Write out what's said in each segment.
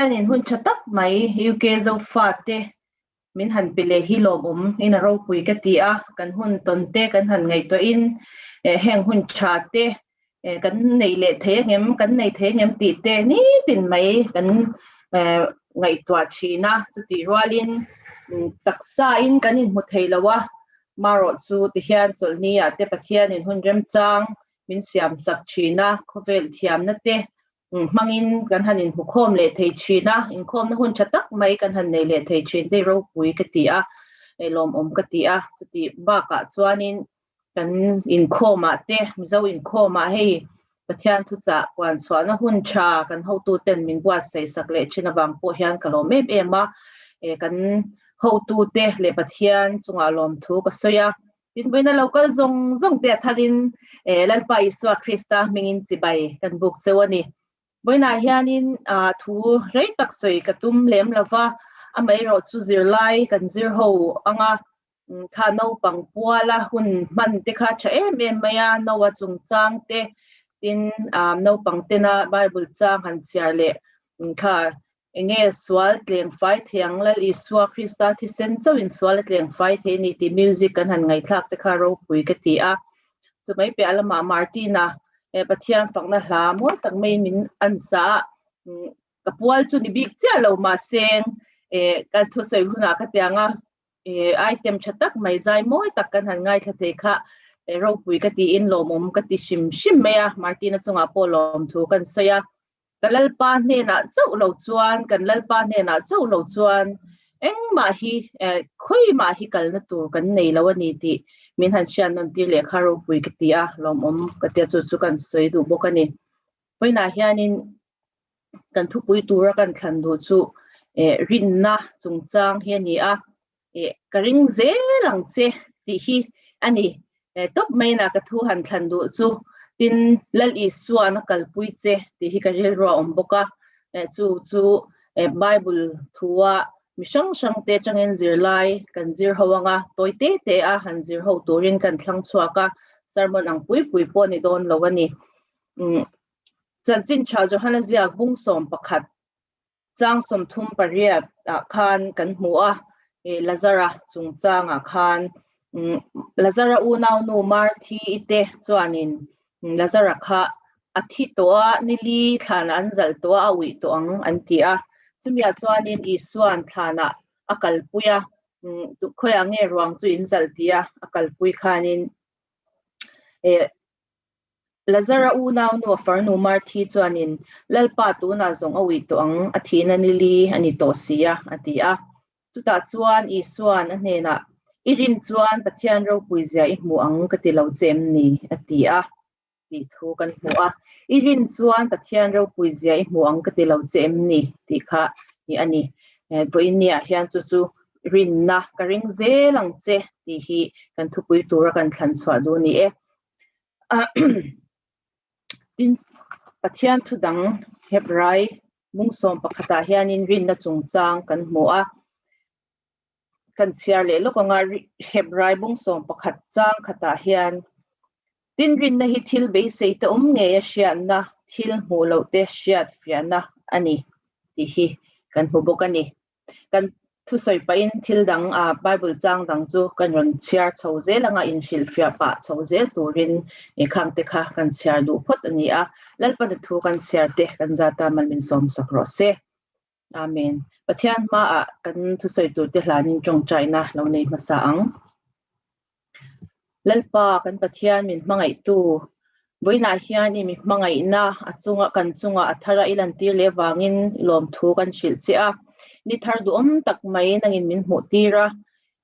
hian in hun tha tak mai UK Zofa te min han pe leh hi lawmawm in a ropui ka ti a, kan hun tawn te kan han ngaihtuah in eh heng hun tha te eh kan nei leh thei a ngem kan nei thei a ngem tih te nitin mai kan eh ngaihtuah thin a, chutih rual in taksa in kan in hmu thei lo a marawh chu ti hian Chawlhni ah te Pathian in hun remchang min siam sak thin a khawvel thiam na te Hmangin kan han inhmukhawm leh thei thin a, inkhawmna hun tha tak mai kan han nei leh thei thin tei ropui ka ti a, lawmawm ka ti a, chutih bakah chuanin kan inkhawmah te, Mizo inkhawmah hei Pathian thuchah puan chhuahna hun tha kan hotute'n min buatsaihsak leh thin avang pawh hian ka lawm em em a, kan hotute leh Pathian chungah lawmthu ka sawi a, Pinpuina lo kal zawng zawng te athalhin Lalpa Isua Krista hmingin chibai kan buk cheu a ni. Vawiinah hianin thu rei tak sawi ka tum lem lo va, amaherawh chu zirlai kan zir ho ang a, tha naupang puala hun hman te kha tha em em mai a, Noah chungchang te, tin naupangtena Bible chang han chhiar leh tha Enge sual tleng fai thei ang lal Isua Krista thisen chauhin sual a tleng fai thei ni tih music kan han ngaithlak te kha ropui ka ti a. Chumai piah lamah Martina eh Pathian fakna hla mawi tak mai min an sa a, ka pual chu ni bik chiah lo mahse eh ka thusawi hunah ka tiang a eh item tha tak mai zai mawi tak kan han ngaithla thei kha ropui ka tiin lawmawm ka ti hrim hrim mai a, Martina chungah pawh lawmthu kan sawi a, Ka Lalpa hnenah chauh lo chuan, kan Lalpa hnenah chauh lo chuan engmah hi, khawi mah hi kalna tur kan nei lo a ni tih min han hriat nun tir leh kha ropui ka ti a, lawmawm ka ti a, chu chu kan sawi duh bawk a ni. Pawnah hianin kan thupui tura kan thlan duh chu rinna chungchang hi a ni a, eh ka ring zel ang che tih hi a ni eh tawp mai ina ka thu han thlan duh chu tin Lal Isuan a kalpui che tih hi ka rilru a awm bawk a eh chu chu eh Bible thua mi hrang hrang te atangin zirlai kan zir ho anga tawi te te a han zir ho turin kan thlang chhuak a sermon ang pui pui pawh a ni dawn lo a ni umm Chanchinṭha Johanna Ziak bung sawm pakhat Chang sawmthum pariat ah khan kan hmu a, Lazara chungchang ah khan Lazara unaunu Marthi ite chuanin Lazara kha a thi tawh a, nili thlan ah an zalh tawh a, a uih tawh ang an ti a. Chumi ah chuanin Isua'n thlan ah a kalpui a, Khawi ah nge ruang chu in zalh? tia a kalpui khanin Lazar a unaunu a farnu Marthi chuanin, Lalpa tunah zawng a ui tawh ang, a thihna nili a ni tawh si a, a ti a. Chutah chuan Isua'n a hnenah, I rin chuan Pathian ropui zia i hmu ang ka ti lo che em ni? a ti a, tih thu kan hmu a. I rin chuan Pathian ropui zia i hmu ang ka ti lo che em ni? tih kha nih a ni. Vawinia hian chu chu rinna ka ring zel ang che tih hi kan thupui tura kan thlan chhuah duh a ni e. tin Pathian thu dang Hebrai mung sawm pakhatah hianin rinna chungchang kan hmu a, kan chhiar leh lawk anga Hebrai mung sawm pakhat chang khatah hian tin rinna hi thil beiseite awm ngeia hriatna, thil hmuh lohte hriatfiahna a ni tih hi kan hmu bawk a ni. kan thusawi pahin thil dang a Bible chang dang chu kan rawn chhiar chho zel anga inhrilhfiah pah chho zel turin e khangte kha kan chhiar duh phawt a ni a Lalpana thu kan chhiar te kan zata man min sawmsak rawh se Amen Pathian hmaah kan thusawi turte hlanin tawngtaina lo nei hmasa ang. Lalpa kan Pathian min hmangaihtu, vawiinah hian i mi hmangaihna a chunga kan chungah a thar a, i lantir leh vangin i lawmthu kan hrilh chiah a, ni thar duhawm tak mai nangin min hmuh tir a,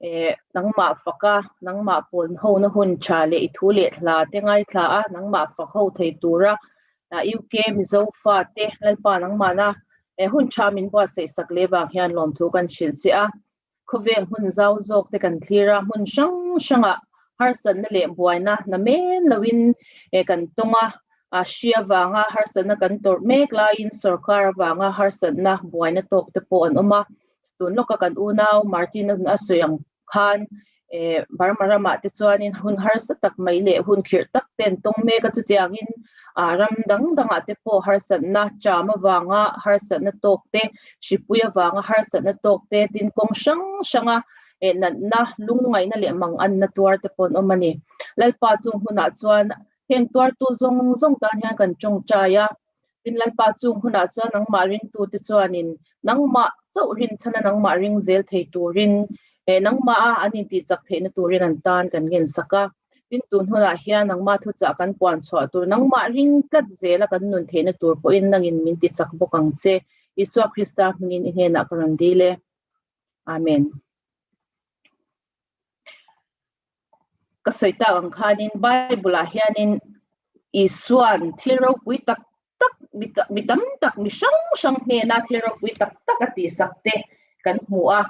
eh nangmah faka nangmah pawn hona hun tha leh i thu leh hla te ngaithla a, nangmah fak ho thei tura UK Mizo fa te Lalpa nangmahna hun tha min buatsaihsak leh vang hian lawmthu kan hrilh chiah a, Khawvel hmun zau zawk te kan thlir a, hmun hrang hrangah harsatna leh buaina hna men loin kan tawng a, a hria vanga harsatna kan tawrh mek laiin sorkar avanga harsatna buaina tawk te pawh an awm a. Tun lawka kan unau Martin a sawi ang khan Burma ramah te chuanin hun harsa tak mai leh hun khirh tak te an tawng mek a, chutiangin ram dang dangah te pawh harsatna ṭam avanga harsatna tawk te, hripui avanga harsatna tawk te, tin kawng hrang hranga natna, lungngaihna leh mang anna tuar te pawh an awm a ni. Lalpa chung hunah chuan heng tuartu zawng zawng tan hian kan ṭawngṭai a. Tin Lalpa chung hunah chuan nangmah ringtute chuanin nangmah chauh hrinchhana nangmah ring zel thei turin he nangmah a an intihchak theihna turin an tan kan ngensak a. Tin tun hunah hian nangmah thuchah kan puan chhuah tur nangmah ring tlat zela kan nun theihna tur pawhin nangin min ti chak bawk ang che. Isua Krista hmingin i hnenah ka rawn dil e. Amen. ka sawi tak ang khanin bible ah hianin Isua'n thil ropui tak tak mi tam tak mi hrang hrang hnena thil ropui tak tak a tihsak te kan hmu a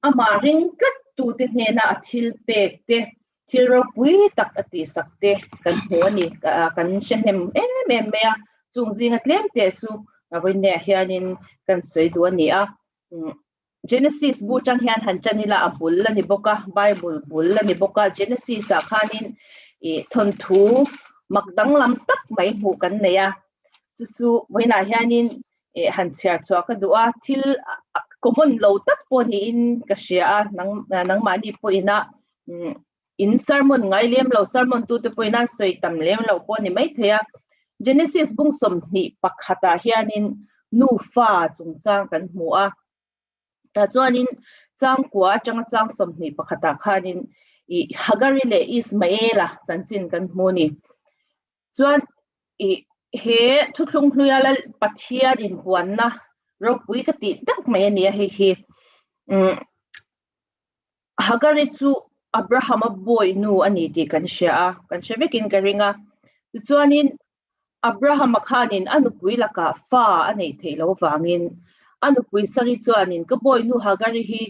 amah ring tlat tute hnena a thil pek te thil ropui tak a tihsak te kan hmu a ni kan hrehnem em em mai a chung zinga tlem te chu vawinneiah hianin kan sawi duh a ni a Genesis bu chang hian han tan ila a bul a ni bawk a, Bible bul a ni bawk a. Genesis-ah khanin ih thawnthu mak danglam tak mai hmuh kan neih a, chu chu vawiinah hianin ih han chhiar chhuah ka duh a, thil common lo tak pawh niin ka hria a, nang nangmahni pawhin a umm In sermon ngai lem lo, sermon tu te pawhin an sawi tam lem lo pawh a ni mai thei a. Genesis bung sawmhnih pakhatah hianin nufa chungchang kan hmu a, tah chuanin changkua atanga chang sawmhnih pakhatah khanin ih Hagari leh Ismaela chanchin kan hmu a ni. Chuan ih he thuthlung hnuia lal Pathian inpuanna ropui ka tih deuh mai a ni a hei hi. Umm. Hagari chu Abrahama bawi nu a ni tih kan hria a, kan hre vekin ka ring a. Tichuanin Abrahama khanin a nupui lakah fa a neih theih lo vangin a nupui Sari chuanin ka bawi nu Hagari hi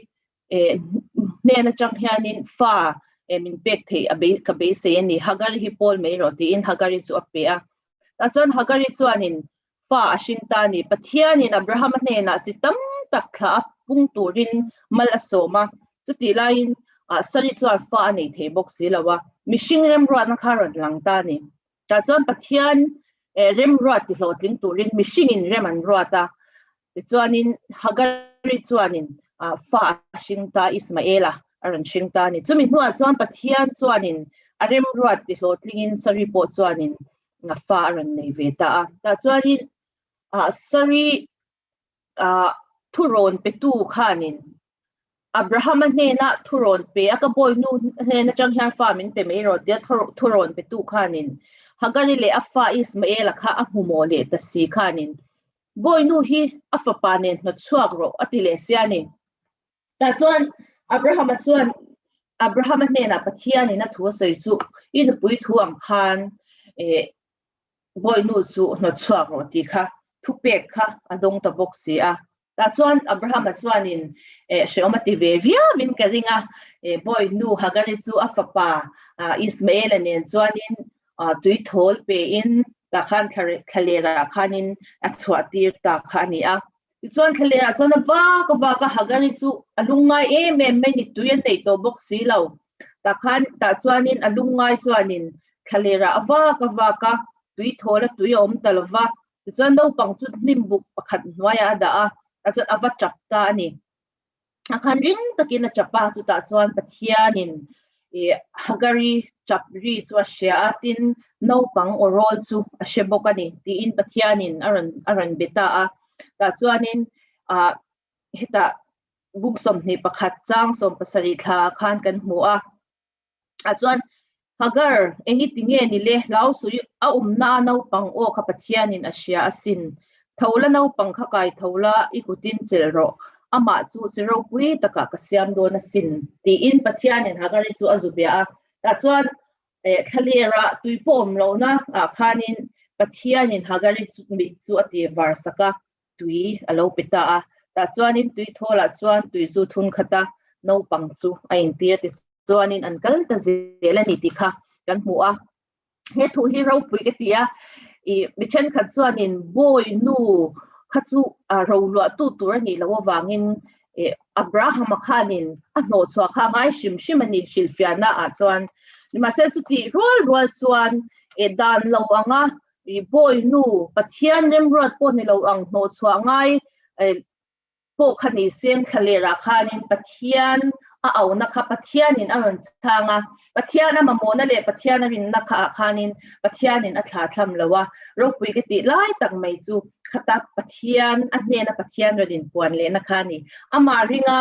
hnen atang hianin fa min pek theih a ka beisei a ni, Hagari hi pawl mai rawh tiin Hagari chu a pe a. Tah chuan Hagari chuanin Fa a hring ta ni. Pathianin Abrahama hnenah chi tam tak thla a pung turin mal a sawm a, chutih laiin Sari chuan fa a nei thei bawk si lo a, mihring remruatna kha rawn lang ta ni. Tah chuan Pathian remruat tihlawhtling turin mihringin rem an ruat a, tichuanin Hagari chuanin fa a hring ta, Ismaela a rawn hring ta a ni. Chumi hnuah chuan Pathian chuanin a remruat tihlawhtlingin Sari pawh chuanin ngah fa a rawn nei ve ta a. Tah chuanin ah, Sari ah, thu rawn petu khanin Abrahama hnena thu rawn pe a ka bawinu hnena chang hian fa min pe mai rawh tia thu rawn petu khanin Hagari leh a fa Ismaela kha a hmumaw leh ta si khanin bawinu hi a fapa nen hnawtchhuak rawh a ti leh sia ni. Tah chuan Abrahama chuan Abrahama hnenah Pathianin a thu a sawi chu, I nupui thu ang khan bawihnu chu hnawtchhuak rawh tih kha thupek kha a dawng ta bawk si a. Tah chuan Abrahama chuanin hreawma ti ve viauin ka ring a, bawihnu Hagari chu a fapa Ismaela nen chuanin tui thawl pein tah khan thlalekah khanin a chhuahtir ta kha a ni a. Tichuan thla lehah chuan a vak a vak a Hagari chu a lung ngai em em mai ni tui an neih tawh bawk si lo. Tah khan, tah chuanin a lung ngai chuanin thla lerah a vak a vak a, tui thawl a tui a awm ta lo va. Tichuan naupang chu hnimbuk pakhat hnuaiah a dah a, tah chuan a va ṭap ta a ni. a khan ring takin a tap a chutah chuan pathianin i hagari tap ri chu a hria a tin naupang aw rawl chu a hre bawk a ni tiin pathianin a rawn a rawn be ta a tah chuanin ah hetah buk sawmhnih pakhat chang sawm pasarih thla khan kan hmu a a chuan Hagar eng i ti nge ni le hlau suih a umna a naupang aw kha Pathianin a hria a sin tho la naupang kha kai tho la i kutin chelh rawh amah chu chi ropui takah ka siam dawn a sin tiin Pathianin Hagarin chu a zu bia a tah chuan eh thlaliara tui pawh awm lohna ah khanin Pathianin Hagarin chu mi chu a tirvar sak a tui a lo pe ta a, tah chuanin tui thawl ah chuan tui chu thun khat a, naupang chu a intir a tichuanin an kal ta zel a ni tih kha kan hmu a, he thu hi ropui ka ti a, ih mi thenkhat chuanin bawi nu kha chu ro luahtu tur a nih loh avangin ih Abrahama khanin a hnawhchhuah kha a ngai hrim hrim a ni hrilhfiahna ah chuan, nimahse chutih rual rual chuan ih dan lo anga I bawi nu Pathian remruat pawh ni lo ang hnawhchhuah ngai pawh kha ni se, thla lerah khanin Pathian a auna kha Pathianin a rawn chang a, Pathian a mamawna leh Pathian a rinna kha ah khanin Pathianin a thla thlam lo a, ropui ka tih lai tak mai chu khata Pathian a hnena Pathian rawn inpuan lehna kha a ni. Amah ringa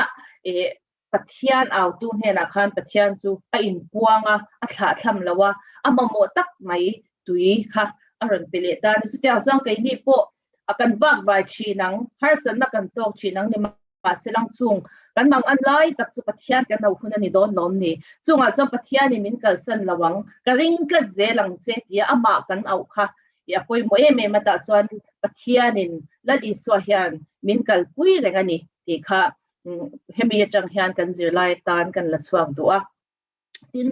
Pathian autu hnenah khan Pathian chu a inpuang a, a thlah thlam lo a, a mamawh tak mai tui kha a rawn pe leh ta a ni. Chutiang chuan keini pawh a kan vak vai thin ang, harsatna kan tawk thin ang ni mahse lang chung kan mang an lai tak chu Pathian kan lo hun a ni dawn lawm ni. Chungah chuan Pathian i min kalsan lo ang, ka ring tlat zel ang che tia amah kan auh kha i a pawimawh em em atah chuan Pathianin Lal Isua hian min kalpui reng a ni tih kha hemi atang hian kan zirlai atan kan la chhuak duh a, tin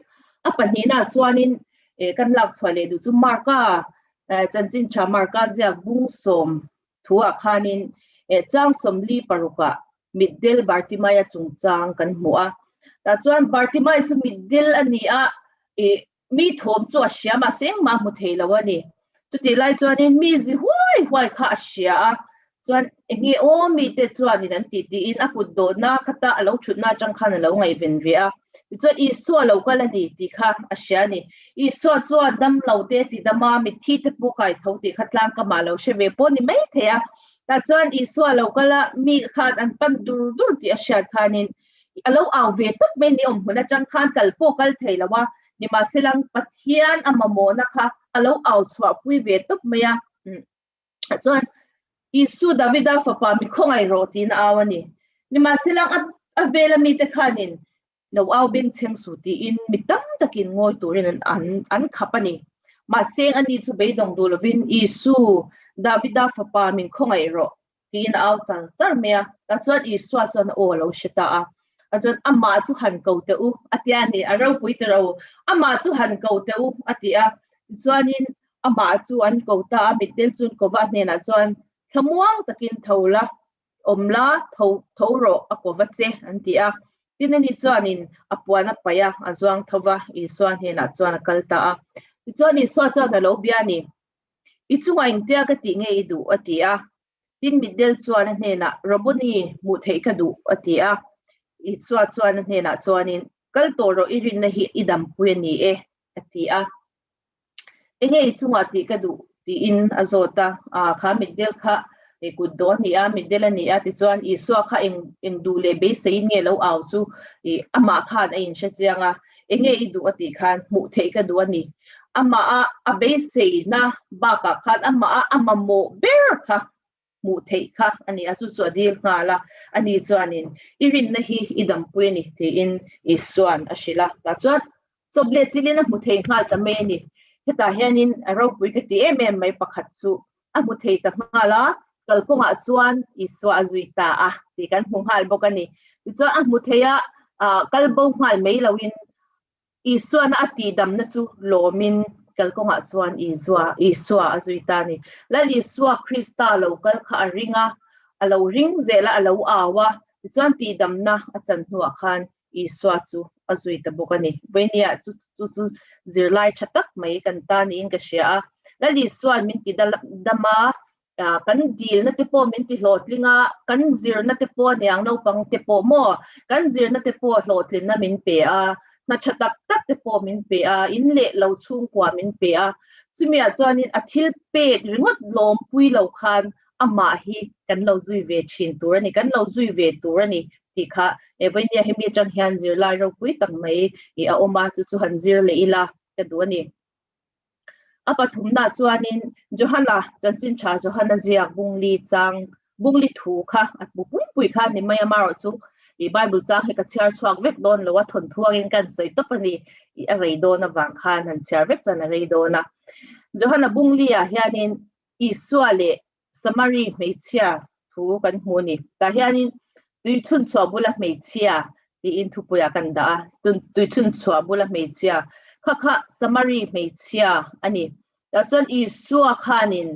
a pahnihnaah chuanin kan lak chhuah leh duh chu Mark-a chanchin tha Mark-a ziak bung sawm thuah khanin chang sawmli parukah mitdil Bartimai-a chungchang kan hmu a, tah chuan Bartimai chu mitdil a ni a, mi thawm chu a hria mah se engmah a hmu thei lo a ni. Chutih lai chuanin mi zi huai huai kha a hria a, chuan eng nge aw mite chuanin an tih tiin a kut dawhna khata a lo thutna atang khan a lo ngaihven ve a. Tichuan, Isua lo kal a ni tih kha a hria a ni. Isua chuan damlo te tidama mitthi te pawh kai tho tih kha tlangkama a lo hre ve pawh ni mai thei a. Tah chuan Isua lo kala mi khan an pan dur dur tih a hriat khanin I lo au ve tawp mai ni awm hun atang khan kal pawh kal thei lo a, nimahselang Pathian a mamawhna kha a lo au chhuahpui ve tawp mai a. Chuan Isua Davida fapa mi khawngaih rawh tiin a au a ni. Nimahselang a vela mite khanin lo au bengchheng su tiin mi tam takin ngawi turin an khap a ni. Mahse, ani chu beidawng duh lovin Isua Davida fapa min khawngaih rawh tiin a au char char mai a, tah chuan Isua chuan a aw alo hre ta a, a chuan amah chu han ko teh u a tia a ni, a ropui teh ro, amah chu han ko teh u a ti a, tichuanin amah chu an ko ta a, mitdil chu Kova hnenah chuan thlamuang takin tho la, awm la, tho tho rawh a Kova che an ti a, tin ani chuanin a puan a paih a, a zuang tho va, Isua hnenah chuan a kal ta a, tichuan Isua chuan alo bia a ni, I chungah engtia ka tih nge i duh? a ti a. Tin mitdel chuan a hnenah, Rabuni, hmuh theih ka duh, a ti a. Isua chuan a hnenah chuanin, Kal tawh rawh, i rinna hi i dampui a ni e, a ti a. Enge i chungah tih ka duh? tiin a zawt a. Aa, kha mitdel kha i kut dawn ni a, mitdel a ni a. Tichuan, Isua kha eng duh leh beiseiin nge lo au chu i amah khan a inhre chiang a. Enge i duh a tih khan hmuh theih ka duh a ni. Amah a beiseina bakah khan amah a mamawh ber kha hmuh theih kha a ni a, chu chu a dil nghal a. Ani chuanin, I rinna hi i dampu a ni, tiin Isua'n a hrilh a. Tah chuan, Chawp leh chilin a hmu thei nghal ta mai a ni. Hetah hianin ropui ka ti em em mai pakhat chu a hmu thei ta nghal a, kal kawngah chuan Isua a zui ta a tih kan hmu nghal bawk a ni. Tichuan a hmu theia kal bo nghal mai loin Isuana a tihdamna chu lawmin kal kawngah chuan Isua a zui ta a ni. Lal Isua Krista lo kal kha a ring a, a lo ring zela a lo au a, tichuan tihdamna a chanhnuah khan Isua chu a zui ta bawk a ni. Vawihnia chu chu chu zirlai tha tak mai kan ta niin ka hria a, Lal Isua min ti dam a, kan dilna te pawh min ti hlawhtling a, kan zirna te pawh niang naupang te pawh maw, kan zirna te pawh hlawhtlinna min pe a, hna tha tak tak te pawh min pe a, in leh lo chhungkua min pe a, chumi ah chuan in a thil pek ringawt lawmpui lo khan amah hi kan lo zui ve thin tur a ni, kan lo zui ve tur a ni tih kha e vawindia hemi atang hian zirlai ropui tak mai ih a awm a, chu chu han zir leh ila ka duh a ni. A pathumna chuanin Johana, chanchin tha Johana ziak bungli chang bungli thu kha a pu pumpuih kha a ni mai a, mah erawh chu ih Bible chang hi ka chhiar chhuak vek dawn lo a, thawn thuangin ka han sawi tawp a ni ih a rei dawn avang khan han chhiar vek chuan a rei dawn a. Johana bungliah hianin Isua leh Samari hmeichhia thu kan hmu a ni. Tah hianin tui chhunchhuah bula hmeichhia tiin thupuiah kan dah a, tui chhunchhuah bula hmeichhia kha kha Samari hmeichhia a ni. Tah chuan Isua khanin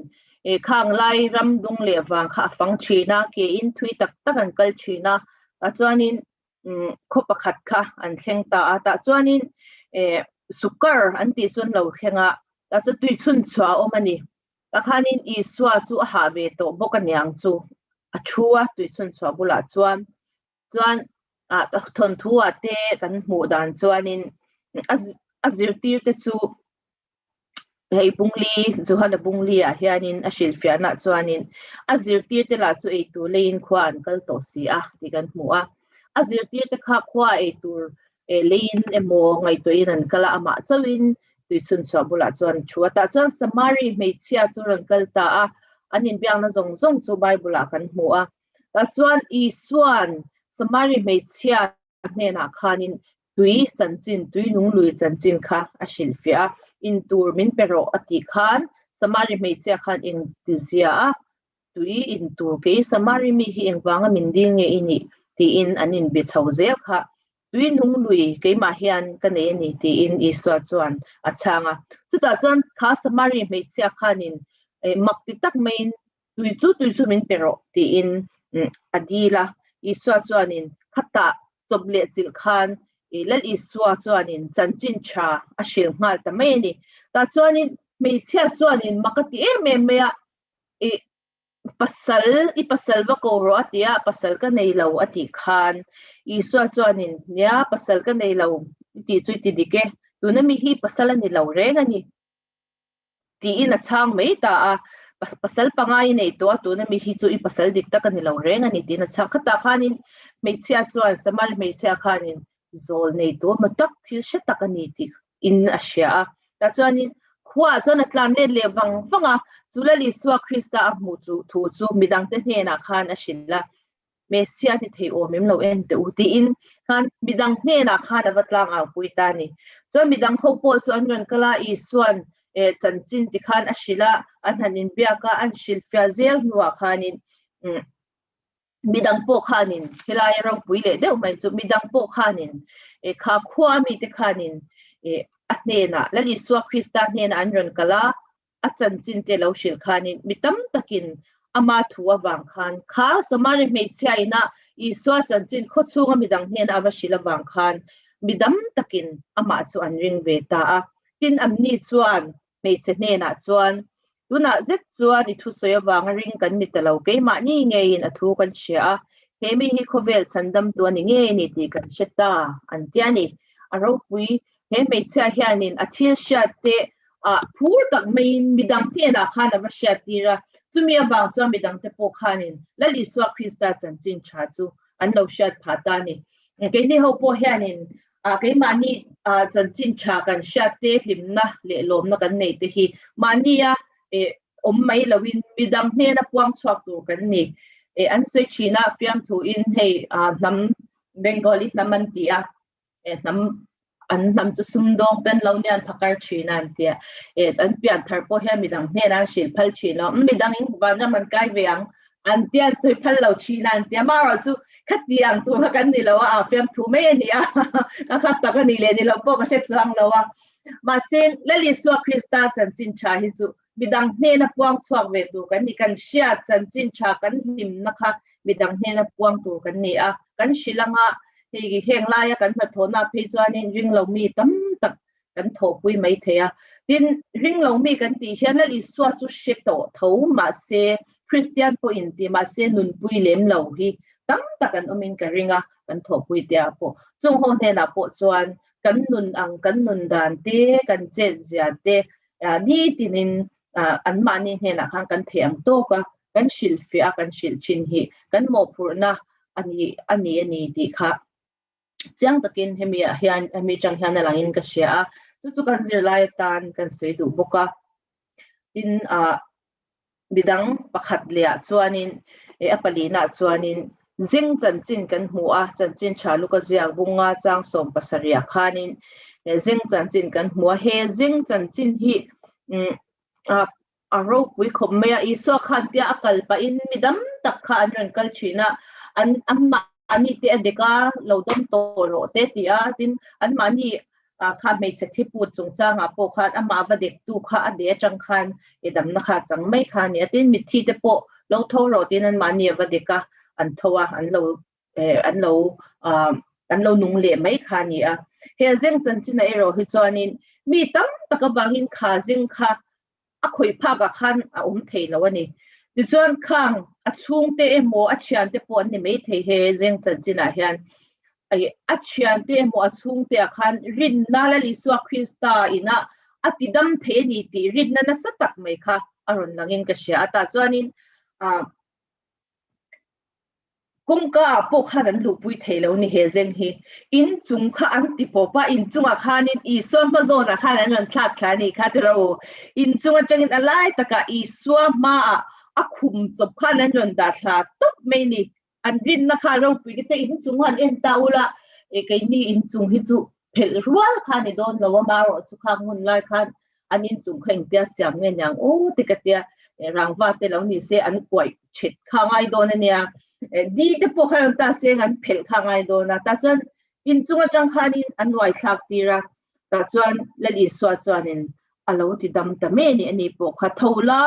khang lai ram dung leh vang kha a fang thin a, kein thui tak tak an kal thin a. Tah chuanin khaw pakhat kha an thleng ta a, tah chuanin Sukkar an tih chuan lo thleng a, tah chuan tui chhun chhuah a awm a ni. Tah khanin Isua chu a hah ve tawh bawk a niang chu a thu a, tui chhun chhuah bulah chuan. Chuan thawnthuahte kan hmuh dan chuanin a zirtirte chu hei bungli zuhana bungli ah hianin a hrilhfiahna chuanin a zirtir te lah chu eitur leiin khua an kal tawh si a tih kan hmu a a zirtir te kha khua eitur e leiin emaw ngaihtuahin an kala amah chauhin tuichhun chhuah bulah chuan thu a tah chuan samari hmeichhia chu rawn kal ta a an inbiakna zawng zawng chu bible ah kan hmu a ta chuan isuan samari hmeichhia hnenah khanin tui chanchin tui nung lui chanchin kha a hrilh fiah a, in tur min pe rawh a tih khan Samari hmeichhia khan eng ti zia a, tui in tur kei Samari mi hi engvanga min dil nge i nih? tiin an in be chho zel kha. Tui nung lui keimah hian ka nei a ni tiin Isua chuan a chhang a. Chutah chuan kha Samari hmeichhia khanin mak ti tak maiin Tui chu tui chu min pe rawh, tiin a dil a. Isua chuanin, Khata chawp leh chilh khan i Lal Isua chuanin chanchin tha a hrilh nghal ta mai a ni. Tah chuanin hmeichhia chuanin mak a ti em em mai a, i pasal, i pasal va ko rawh a tia, pasal ka nei lo a tih khan Isua chuanin, Nia, pasal ka nei lo i tih chu i ti dik e, tuna mi hi pasal a ni lo reng a ni. Tiin a chhang mai ta a, pasal panga i nei tawh a, tuna mi hi chu i pasal dik tak a ni lo reng a ni, tiin a chhang. Khata khanin hmeichhia chuan Samari hmeichhia khanin zawl nei tur hmu tak, thil hre tak a ni tih in a hria a. Tah chuanin khuaah chuan a tlan let leh vang vang a, chu Lalisua Krista a hmuh thu chu midangte hnenah khan a hrilh a. Messia ni thei awm em lo en teh u, tiin khan midang hnenah khan a va tlangaupuii ta a ni. Chuan midang ho pawl chu an rawn kal a, Isua'n eh chanchin ti khan a hrilh a, a hnan in biak a, an hrilhfiah zel hnuah khanin umm midang pawh khanin helai ropui leh deuh mai chu midang pawh khanin eh kha khua mite khanin eh a hnenah Lalisuak Krista hnenah an rawn kal a, a chanchin te lo hrilh khanin mi tam takin ama thu avang khan kha Samari hmeichhia ina Isua chanchin khawchhunga midang hnena a va hrilh avang khan mi dam takin amah chu an ring ve ta a. Tin an ni chuan hmeichhe hnenah chuan, Tunah zet chuan i thusawi avanga ring kan ni ta lo, keimah ni ngeiin a thu kan hria a, he mi hi khawvel chhandamtu a ni ngei a ni tih kan hre ta, an ti a ni. A ropui he hmeichhia hianin a thil hriat te a phur tak maiin midang hnenah khan a va hriat tir a. Chumi avang chuan midang te pawh khanin Lal Isua Krista chanchin tha chu an lo hriat phah ta a ni. Keini ho pawh hianin keimahni chanchin tha kan hriat te hlimna leh lawmna kan nei te hi mahnia awm mai loin midang hnena puang chhuak tur kan ni. An sawi thin a fiamthu in hei hnam Bengali hnam an ti a, eh hnam an hnam chu sum dawng ten lo nian pha kar thin a an ti a eh an pian thar pawh hian midang hnen a hrilh phal thin lo midang in van ram an kai ve ang an tian sawi phal lo thin a an ti a ma ro chu kha ti ang tu kha kan ni lo a fiam thu mai ani a ka khat tak ani le ni lo pawh ka hre chuang lo a ma sin lali suak krista chan chin tha hi chu Midang hnena puang chhuak ve tur kan ni. Kan hriat chanchin tha kan hlimna kha midang hnena puang tur kan ni a. Kan hrilh anga hei heng laia kan hnathawhnaah phei chuanin ringlo mi tam tak kan thawhpui mai thei a. Tin, ringlo mi kan tih hian Lal Isua chu hre tawh tho mahse, Kristian pawhin tih mahse nunpui lem lo hi tam tak kan awmin ka ring a, kan thawhpui te ah pawh. Chungho hnenah pawh chuan kan nun ang, kan nun dan te, kan chenhzia te, ni tinin anmahni hnenah khan kan theih ang tawk a, kan hrilhfiah a, kan hrilh thin hi kan mawhphurhna a ni a ni a ni tih kha chiang takin hemi ah hian hemi tang hian a langin ka hria a, chu chu kan zirlai atan kan sawi duh bawk a, tin a Midang pakhat leh ah chuanin eh a palin ah chuanin zing chanchin kan hmu a, chanchin tha luka ziak bung nga chang sawm pasarih ah khanin eh zing chanchin kan hmu a, he zing chanchin hi umm a ropui khawp mai a, Isua khan tia a kal pah in mi dam tak kha an rawn kal thin a, an anmahni te a dek a, lo dawm tawh rawh teh a ti a, tin anmahni a kha hmeichhe thi put chung changah pawh khan amah va dektu kha a de atang khan i damna kha a chang mai kha a ni a, tin mitthi te pawh lo tho rawh tiin anmahni va dek a an tho a, an lo an lo an lo nung leh mai kha a ni a. Hei a zeng chanchinah erawh hi chuanin mi tam tak avangin kha zing kha a khawih phak ah khan a awm thei lo a ni. Tichuan khang a chhungte emaw a thiante pawh an ni mai thei he zeng chanchin ah hian i a thiante emaw a chhungte ah khan rinna Lal Isua Krista in ah a ti dam thei a ni tih rinna nasa tak mai kha a rawn lang in ka hria a. Tah chuan in ah kawngka ah pawh khan an luhpui thei lo ni he zeng hi inchung kha an ti pawp a, inchung ah khanin Isua hma zawn ah khan an rawn thlak thla ni kha ti rau, inchung atangin a lai tak ah Isua hma ah a khum chawp khan an rawn dah thla tawp mai ni, an rinna kha ropui ka tia inchung ah an en ta ula, e keini inchung hi chu Phelh rual khan i dawn lo a, mah rawh chu kha ngun lai khan an inchung kha engtia siam nge niang u te ka tia, eh rangva te lo ni se an kuaih ṭhet kha ngai dawn a nia, eh di te pawh kha rawn ta se ang an phelh kha ngai dawn a, tah chuan inchung aṭang khanin an uaithlak tir a, tah chuan Lalisua chuanin a lo ti dam ta mai a nih, a nih pawh kha tho la,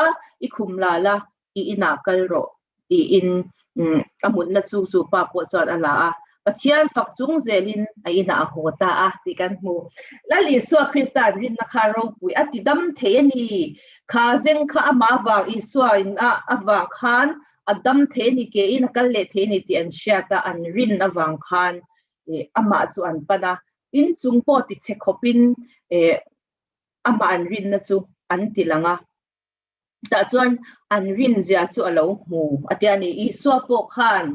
i khum la la, I inah kal rawh, tiin a mutna chuk chu pa pawh chuan a la a, Pathian fak chung zelin a inah a haw ta a tih kan hmu. Lal Isua Krista an rinna kha ropui a tidam thei a ni. Kha zeng kha amah vang Isua in a avang khan a dam thei a ni ke in a kal leh thei a ni tih an hriat a, an rin avang khan amah chu an pan a, tin chung pawh ti che khawpin amah an rinna chu an ti lang a. tah chuan an rinzia chu a lo hmu a tia a ni Isua pawh khan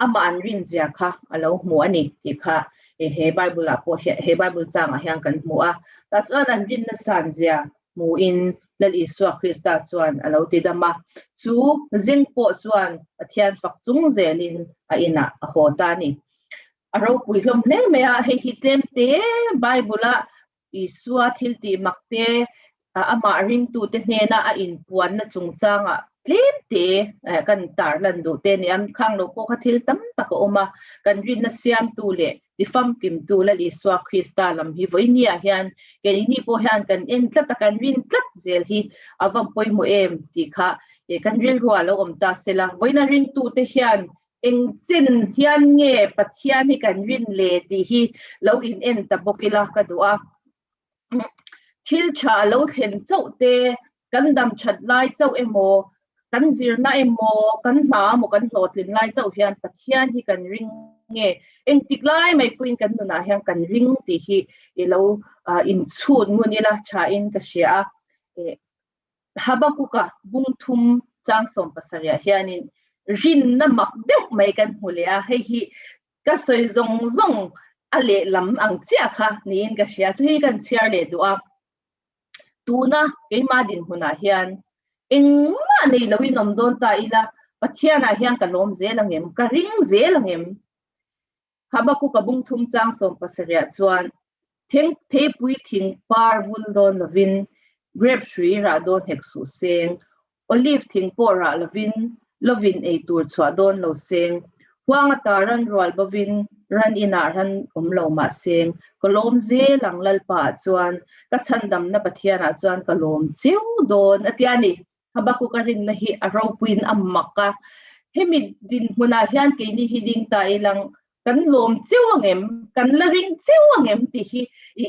amah an rinzia kha a lo hmu a ni tih kha he Bible ah pawh hian he Bible chang ah hian kan hmu a tah chuan an rin na san zia hmu in lal Isua Krista chuan a lo ti dam a chu zing pawh chuan Pathian fak chung zel in a in ah a haw ta a ni a ropui hlawm hle mai a hei hi tlem te Bible ah Isua thiltih mak te amah ringtute hnena a inpuanna chungchanga tlem te ka in tar lan duh te ni. An khang lo pawh kha thil tam tak a awm a, kan rinna siamtu leh tifamkimtu Lal Isua Krista lam hi vawinia hian kei ni ni pawh hian kan en tlat a, kan rin tlat zel hi a va pawimawh em tih kha kan rilruah a lo awm ta sela, vawiina ringtute hian Eng chin hian nge Pathian hi kan rin le tih hi lo in en ta bawk ila ka duh a. Thil tha a lo thlen chauh te, kan dam that lai chauh emaw, kan zirna emaw, kan hna emaw kan hlawhtling lai chauh hian Pathian hi kan ring nge, engtik lai mai pawhin kan nunah hian kan ring tih hi i lo inchhut ngun ila thain ka hria a. Habakuka bung thum chang sawm pasarihah hianin rinna mak deuh mai kan hmu leh a, hei hi ka sawi zawng zawng a lehlam ang chiah kha niin ka hria, chu hi kan chhiar leh duh a, tuna keimah dinhmunah hian engmah nei lo in awm dawn ta ila Pathianah hian ka lawm zel ang em, ka ring zel ang em? Habakuka bungthum chang sawm pasarihah chuan, Theng theipui thing par vul dawn lovin, grape hrui rah dawn hek suh seng, olive thing pawh rah lovin, lovin ei tur chhuah dawn lo seng, huanga ta ran rual bovin, ran inah ran awm lo mah seng, ka lawm zel ang Lalpa ah chuan, ka chhandamna Pathian ah chuan ka lawm cheu dawn, a ti a ni. Habakuka rinna hi a ropuiin a mak a, Hemi dinhmunah hian keini hi ding ta i lang, kan lawm cheu ang em? Kan la ring cheu ang em? tih hi i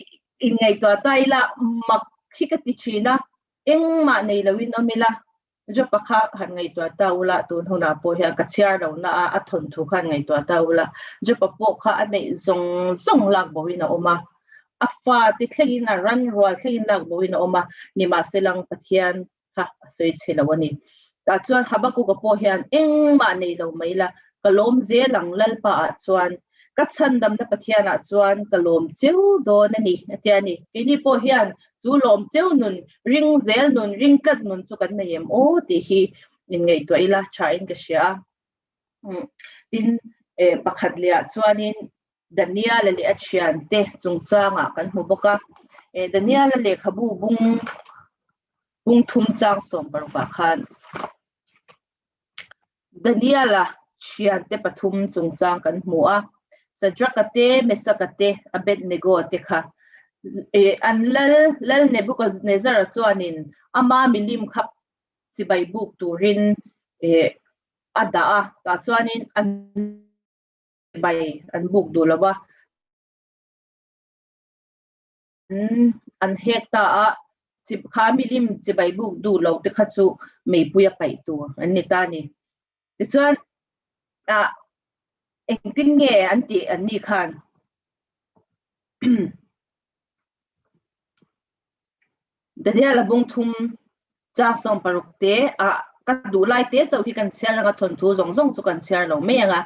inngaihtuah ta ila, mak hi ka ti thin a, engmah nei loin awm ila, Jopa kha han ngaihtuah ta ula, tun hunah pawh hian ka chhiar lohna a, a thawnthu kha han ngaihtuah ta ula, Jopa pawh kha a neih zawng zawng lak bohin a awm a, A fa ti thlengin a ran rual thlengin lak bohin a awm a, nimahse lang Pathian kha a sawi che lo a ni. Tah chuan Habakuka pawh hian engmah nei lo mai la, ka lawm zel ang Lalpa ah chuan, ka chhandamna Pathian ah chuan ka lawm cheu dawn a ni, a ti a ni. Keini pawh hian chu lawm cheu nun, ring zel nun, ring tlat nun chu kan nei em aw tih hi inngaihtuah ila thain ka hria a. Tin, pakhat leh ah chuanin Daniela leh a thiante chungchangah kan hmu bawk a, e Daniela lehkhabu bung bung thum chang sawm parukah khan Daniela thiante pathum chungchang kan hmu a, Sadraka te, Mesaka te, Abednego te kha e an lal lal Nebuchadnezzara chuanin ama milim kha chibai buk turin e a dah a, tah chuanin an bai an buk duh lo a, an hek ta a, kha milim chi bai buk duh lo te kha chu Meipuia paih tur an ni ta a ni. Tichuan engtin nge an tih an nih khan Daniela bung thum chak sawm paruk te a ka duh lai te chauh hi kan chhiar ranga thawnthu zawng zawng chu kan chhiar lo mai ang a.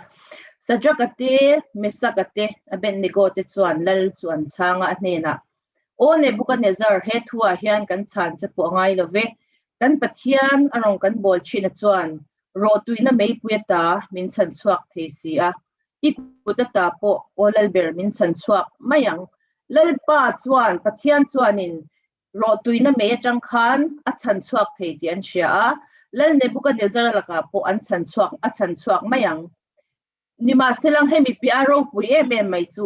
Sadraka te Mesaka te Abednego te chuan Lal chu an chhang a a hnenah, Aw Nebuchadnezzar, he thu ah hian kan chhan che pawh a ngai lo ve. Kan Pathian a rawn kan bawl thin a chuan rawtuina meipui ata min chhan chhuak thei si a, I kut ata pawh aw Lal ber min chhan chhuak mai ang. Lalpa chuan Pathian chuanin rawhtuina mei atang khan a chhan chhuak thei tih an hria a, Lal Nebukahnezara lakah pawh an chhan chhuak, a chhan chhuak mai ang. Nimahselang hemi piahah ropui em em mai chu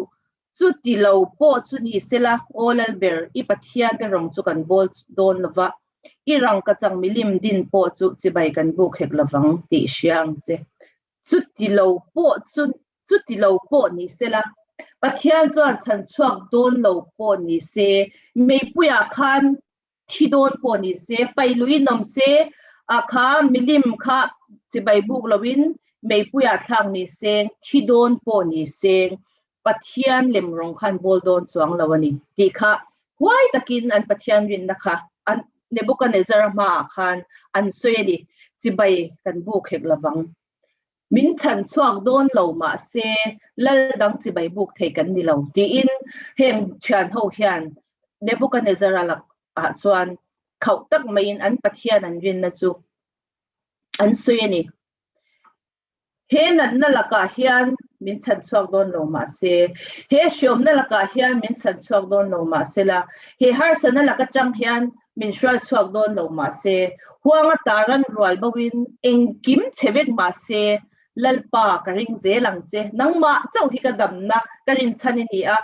chu ti lo pawh chu ni se la, aw Lal ber i Pathian te rawng chu kan bawl dawn lo va, i rangkachang milim din pawh chu chibai kan buk hek lo vang tih hria ang che. Chuti lo pawh chu, chuti lo pawh ni se la, Pathian chuan chhan chhuak dawn lo pawh ni se, meipuiah khan thi dawn pawh ni se, pai luh i nawm se, a kha milim kha chibai buk loin meipuiah thlak ni se, thi dawn pawh ni se, Pathian lem rawng khan bawl dawn chuang lo a ni tih kha huai takin an Pathian rinna kha a Nebuchadnezzara hmaah khan an sawi a ni. Chibai kan buk hek lovang. Min chhan chhuak dawn lo mahse lal dang chibai buk thei kan ni lo, tiin heng thian ho hian Nebuchadnezzara lak ah chuan khauh tak maiin an Pathian an rinna chu an sawi a ni. He natna lakah hian min chhan chhuak dawn lo mah se, he hriawmna lakah hian min chhan chhuak dawn lo mah sela, he harsana lak atang hian min hrual chhuak dawn lo mah se, huanga ta ran rual boin engkim che vek mah se, Lalpa, ka ring zel ang che, nangmah chauh hi ka damna ka rinchhan i ni a,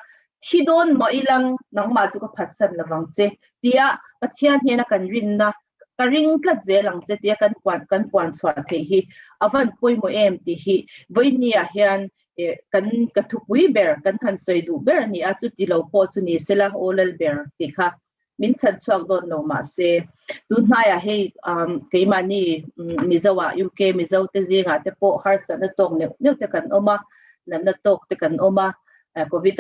thi dawn maw i lang, nangmah chu ka phatsan lovang che, tiah Pathian hnena kan rinna ka ring tlat zel ang che tia kan puan kan puan chhuah theih hi a van pawimawh em tih hi vawinia hian eh kan ka thupui ber kan han sawi duh ber a nia chuti lo pawh chu ni sela aw lal ber tih kha min chhan chhuak dawn lo mah se tun hnaiah hei um keimahni mizo ah UK mizo te zinga te pawh harsatna tawk neuh neuh te kan awm a natna tawk te kan awm a covid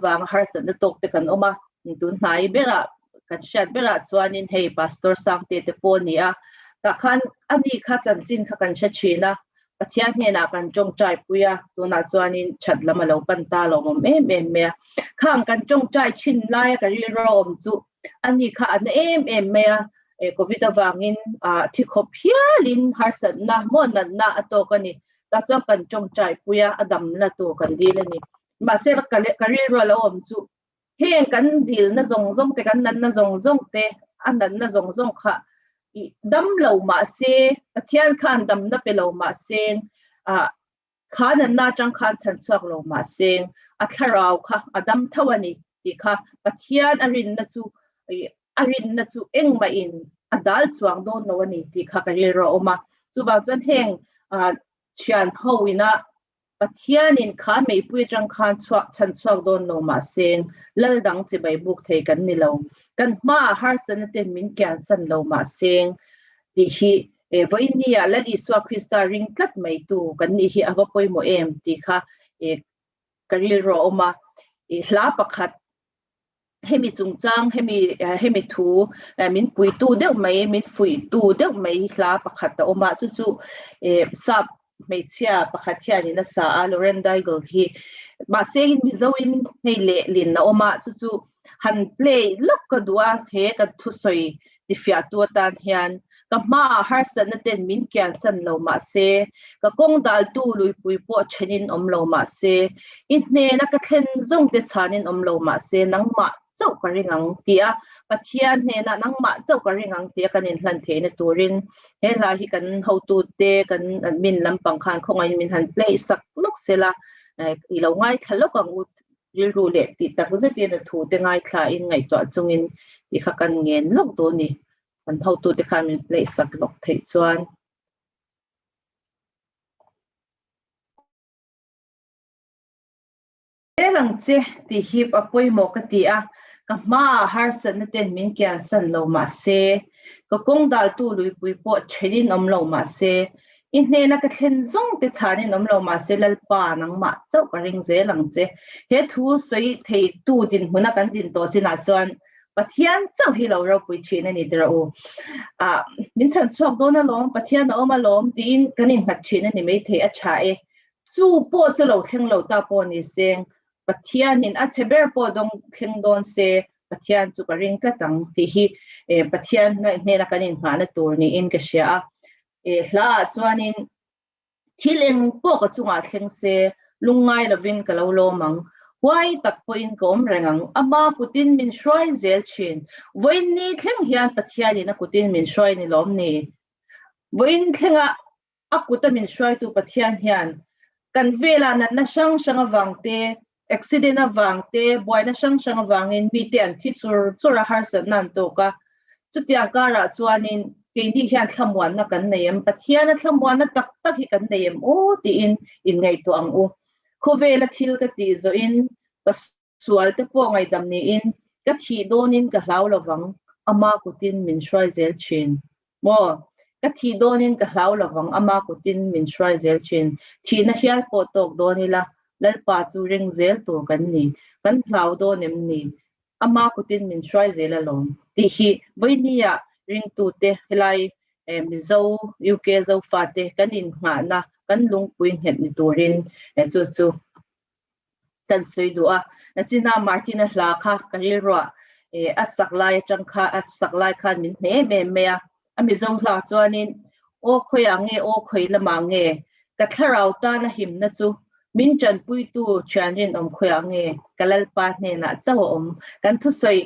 vanga harsatna tawk te kan awm a tun hnai berah kan hriat berah chuanin hei pastor sangte te pawh a ni a tah khan ani kha chanchin kha kan hre thin a Pathian hnenah kan tawngtai pui a tunah chuanin that lam a lo pan ta lo awm em em mai a khang kan tawngtai thin lai a ka rilro awm chu ani kha an em em mai a e covid avangin a thi khawp hialin harsatna maw natna a tawk a ni ta chuan kan tawngtai pui a a damna tur kan dil a ni mahse ka rilru a lo awm chu heng kan dilna zawng zawng te kan natna zawng zawng te a natna zawng zawng kha i dam lo mahse Pathian khan damna pe lo mahse ah kha natna atang khan chhan chhuak lo mahse a thlarau kha a dam tho a ni tih kha Pathian a rinna chu i a rinna chu engmahin a dal chuang dawn lo a ni tih kha ka rilru a awm a chuvang chuan heng ah thianho ina Pathianin kha meipui atang khan chhuak chhan chhuak dawn lo mah se, lal dang che bai buk thei kan ni lo. Kan hma ah harsatna te min kian san lo mah se, tih hi e vawiin ni ah Lal Isua Krista ring tlat mai tu kan nih hi a va pawimawh em tih kha e ka rilru a awm a, e hla pakhat hemi chungchang hemi hemi thu min puitu deuh mai min fuihtu deuh mai hla pakhat a awm a chu chu eh sap hmeichhia pakhat hianin a sa a Loren Daigle hi mahse hei in mizo in hei lehlin a awm a chu chu han play lawk ka duh a he kan thusawi tifiahtu atan hian ka hmaah harsatna ten min kiansan lo mahse, ka kawng daltu luipui pawh thenin awm lo mahse, i hnena ka thlen zawngte chhanin awm lo mahse, nangmah chauh ka ring ang tia Pathian hnena nangmah chauh ka ring ang tia kan inhlan theihna turin he hla hi kan hotute, kan admin lampang khan khawngain min han play sak lawk sela, i lo ngaithla lawk ang u Rilru leh tih tak zet in a thu te ngaithla in ngaihtuah chung in tih kha kan ngen lawk duh a ni. Kan hotu te khan min play sak lawk theih chuan. Fel ang che tih hip a pawimawh ka ti a, ka hma ah harsatna ten min kian san lo mah se, ka kawng dal tu luipui pawh then in awm lo mah se, I hnena ka thlen zawng te chhan in awm lo mahse Lalpa nangmah chauh ka ring zel ang che. He thu sawi thei tu dinhmun a kan din tawh chin ah chuan Pathian chauh hi lo ropui thin a ni tirh u. Ah min chhan chhuak dawn alawm, Pathian a awm alawm tiin kan in nghat thin a ni mai thei a tha e. Chu pawh chu lo thleng lo ta pawh ni se, Pathian in a che ber pawh dawng thleng dawn se, Pathian chu ka ring tlat ang tih hi Pathian hnena kan in nghah na tur niin ka hria a. He hla ah chuanin thil eng pawh ka chungah thleng se, lung ngai lovin ka lo lawm ang. Huai tak pawhin ka awm reng ang. Ama kutin min hruai zel thin. Vawiin ni thleng hian Pathianin a kutin min hruai ni lawm ni? Vawiin thlenga a kuta min hruaitu Pathian hian kan velah natna hrang hrang avangte Accident avang te, buaina hrang hrang avangin mite an thi chur chur a harsatna an tawk a. Chutiang karah chuanin keini hian thlamuanna kan nei em? Pathiana thlamuanna tak tak hi kan nei em u? tiin inngaihtuah ang u. Khawvela thil ka tih zawhin ka sualte pawh ngaihdam niin ka thih dawnin ka hlau lovang, Ama kutin min hruai zel thin. Maw? Ka thih dawnin ka hlau lo vang, ama kutin min hruai zel thin. Thihna hial pawh tawk dawn ila, Lalpa chu reng zel tur kan ni, kan hlau dawn em ni? Ama kutin min hruai zel alawm. Tih hi Vawini-a ringtute, helai Mizo, UK Zofate kan inhnghahna, kan lungpui nghet ni turin chu chu. kan sawi duh a, nachina Martin-a hla kha ka rilruah, e, a sak lai atang kha, a sak lai khan min hnem em mai a, a mizo hla chuanin, Aw khawiah nge, aw khawi lamah nge, ka thlarau tana himna chu min tanpuitu thian rinawm khawiah nge, ka Lalpa hnenah chauh a awm, kan thusawi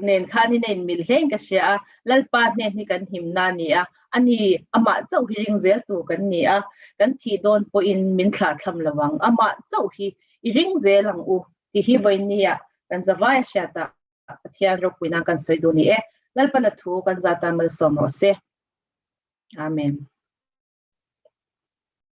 nen khan in a inmil hleng ka hria a, Lalpa hnen hi kan himna a ni a, A ni, amah chauh hi ring zel tur kan ni a, kan thih dawn pawhin min thlah thlam lo ang. Amah chauh hi i ring zel ang u tih hi vawinia kan zavai a hriat a Pathian ropui nan kan sawi duh ni e. Lalpana thu kan za tan malsawm rawh se. Amen.